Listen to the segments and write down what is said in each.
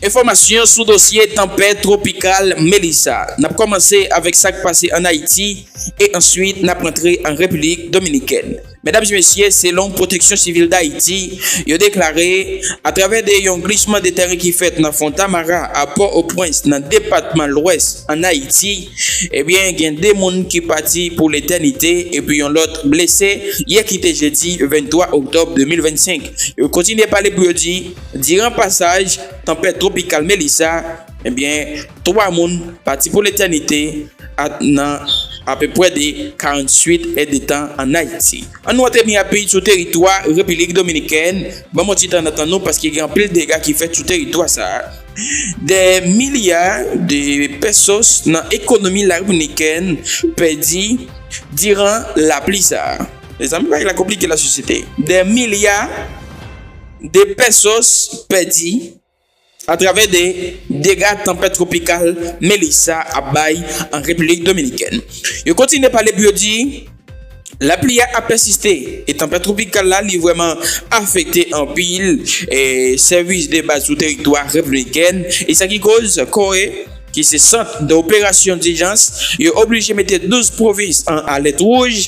Enfòmasyon sou dosye tanpèt twopikal Melissa. N ap kòmanse avèk sa k pase an Ayiti e answit n ap antre an Repiblik Dominikèn. Medam e mesye, selon Pwoteksyon Sivil Dayiti, yo deklare, atravè de yon glisman de tèren ki fèt nan Fontamara a Pò-o-Pwens nan depatman Lwès an Ayiti, ebyen gen 2 moun ki pati pou letènite epi yon lòt blese yè ki te jedi 23 oktòb 2025. Yo kontinye pale pou yo di. Diran pasaj tanpèt twopikal Melissa, ebyen 3 moun pati pou letènite at nan apepwè de 48 è de tan an Ayiti. An nou atèni apid sou teritwa Repilik Dominikèn, banm on ti tan nan tan nou paske gen anpil dega ki fèt sou teritwa sa a. Dè milya de pesos nan ekonomi Larepiblikèn pèdi diran lapli sa a. Mezanmi bagay la konplike la sosyete. Dè milya. 2 pèsons pèdi atravè 2 dega tanpèt twopikal Melissa ap bay an Repiblik Dominikèn. Yo kontinye pale pou yo di lapli a ap pèsiste e tanpèt twopikal la li vrèman afekte anpil sèvis de baz sou teritwa repibliken e sa ki koz CORE ki se sant de operasyon dijans yo oblije mete 12 pwovins an alèt wouj.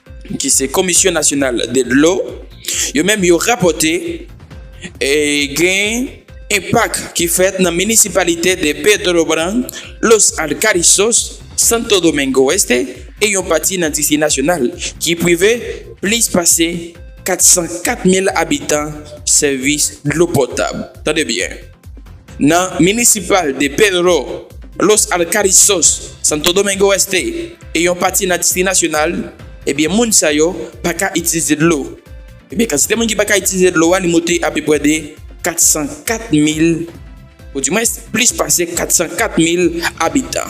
ki se Komisyon Nasyonal de Dlo, yo menm yo rapòte gen enpak ki fèt nan minisipalite de Petrobran, Los Alcarrizos, Santo Domingo Este e yon pati nan Distri Nasyonal ki prive plis pase 404 mil abitan sèvis dlo potab. Tande byen! Nan Municipal de Pedro Los Alcarrizos, Santo Domingo Este, e yon pati nan Distri Nasyonal, ebyen moun sa yo pa ka itilize dlo. Ebyen kantite moun ki pa ka itilize dlo a li moute apeprè de 404 mil, ou di mwens plis pase 404 mil abitan.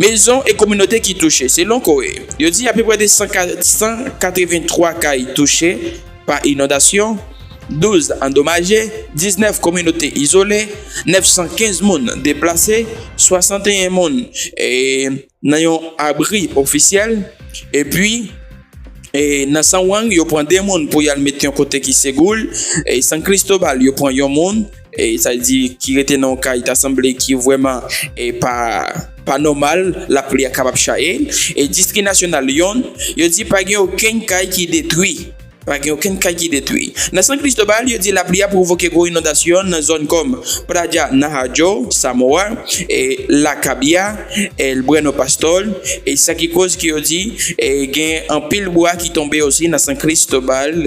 Mezon e kominote ki touche, selon COHE, yo di apeprè de 183 kay touche. Pa inondasyon, 12 andomaje, 19 kominote izole, 915 moun deplase, 61 moun nan yon abri ofisyèl, epi nan San Wang yo pran 2 moun pou y al met yon kote ki segour, San Cristobal yo pran yon moun. Sa di ki rete nan yon kay ta sanble ki vrèman pa nòmal, lapli a kapab chaye. Distri Nasyonal Lyon yo di pa gen okenn kay ki detwi. Pa gen okenn kay ki detwi. Nan San Cristobal yo di lapli a pwovoke gwo inondasyon nan zòn kòm Praja Nahajo, Samoa, La Cabia, El Bueno Pastor. Sa ki koz ke yo di gen anpil bwa ki tonbe osi nan San Cristobal.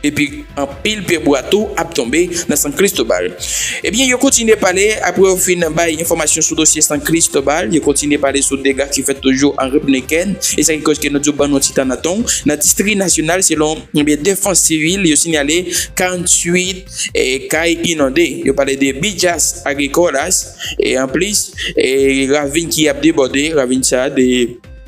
Epi anpil pye bwa tou ap tonbe nan San Cristobal. Ebyen yo kontinye pale apre yo fin bay enfòmasyon sou dosye San Cristobal, yo kontinye pale sou dega ki fèt toujou an Repnn Ken, e sa ki koz ke nou di w ban nou ti tan nan ton w, nan Distri Nasyonal selon Defans Sivil yo sinyale 48 kay inonde, yo pale de Bijas Agricolas e anplis ravin ki ap debòde, ravin sa de.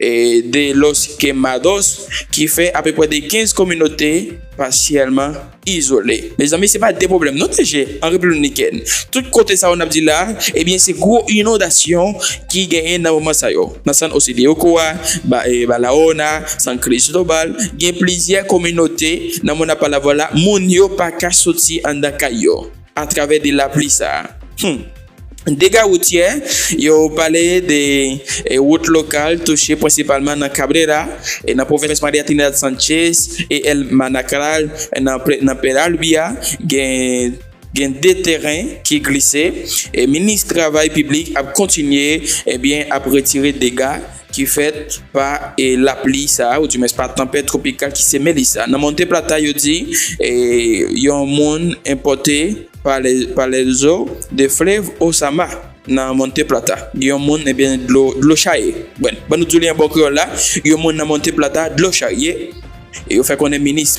de Los Quemados ki fè apeprè de 15 kominote pasyèlman izole. Mezanmi se pa de pwoblèm non TG an Repiblik Dominikèn. Tout kote sa yo n ap di la, ebyen se gwo inondasyon ki genyen nan moman sa yo. Nan San José de Ocoa, Barahona, San Cristobal, gen plizyè kominote nan Monapalavola moun yo pa ka soti anndan kay yo. atravè de lapli sa a. Hum! Dega woutyè yo pale de wout lokal touche prensipalman nan Cabrera, nan pwovens Maria Trinidad Sanchez e El Manacral nan Peralbia gen gen 2 teren ki glise. Minis travay piblik ap kontinye ap retire dega ki fèt pa lapli sa a, oudimwens pa tanpèt twopikal ki seme li sa a. Nan Monte Plata, yo di yon moun enpòte pa lèzo de flev Osama nan Monte Plata. Yon moun, ebyen, dlo charye. Bwenn, ban nou di w li an bon kreyòl la, yon moun nan Monte Plata dlo charye, e yo fè konnen minis.